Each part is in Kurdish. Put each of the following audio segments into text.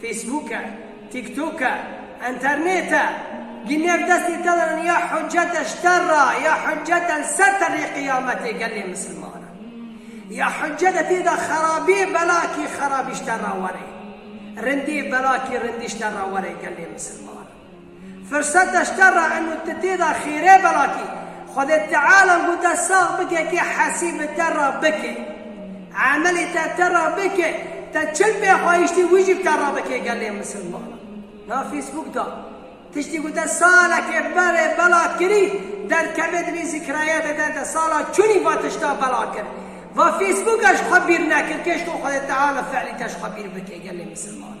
Facebook e, TikTok e, Enternet e, gînev destê te de ne ya hucete ji te re ya hucete li ser terê qiyametê gelê misilman e. Ya hucete tê de xerabiyê belakî xerabî ji te re were. Rindiyê belakî rindî ji te re were gelê misilman. Firset eşterra in û ti tê de xêrê bela kî. Xwedê Teala gû te sax bike kî hesî bi te re bike. Emelê te te re bike, te çil pê xwayîştî wî jî bi te re bike gelê misilmanan. Na Facebook de tiştî gû te salekê berê bela kirî, derkeve di vî zîkrayate de te sala çûnî va tişta bela kir. Va Facebook e ji xwe bîr nekir kê ji to Xwedê Teala fielî te ji xwe bîr bike gelê misilmanan.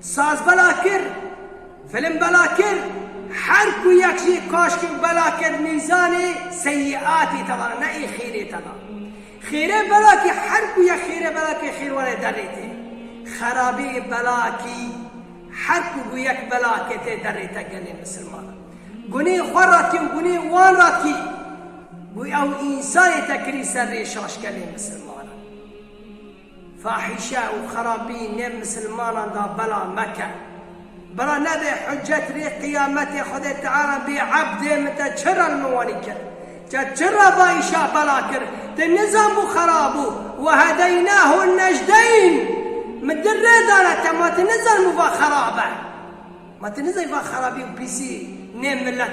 Saz bela kir, film bela kir, her ku yek jî kaşkek bela kir mîzanê seyiatê te da ne ê xêrê te da. Xêrê bela kî her ku yek xêrê bela kir xêr were derê te. Xerabê bela kî her ku bû yek bela kir tê derê te gelê misilmanan. Gunê xwe ra kî û gunê wan ra kî bû ew însanê te kirî ser rê şaş gelê misilmanan. Fahîşe û xerabî nêv misilmanan da bela meke. Bela nebê hucet rê qiyametê Xwedê Teala bê ebdê min te çi re li min wanî kir? Te çi re vayîşa bela kir? Tu nizanbû xerabû wehedeynahu nejdeyn min tu rê dane te ma tu nizanbû va xerab e. Ma tu nizanî va xerabî û pîsî nê milet.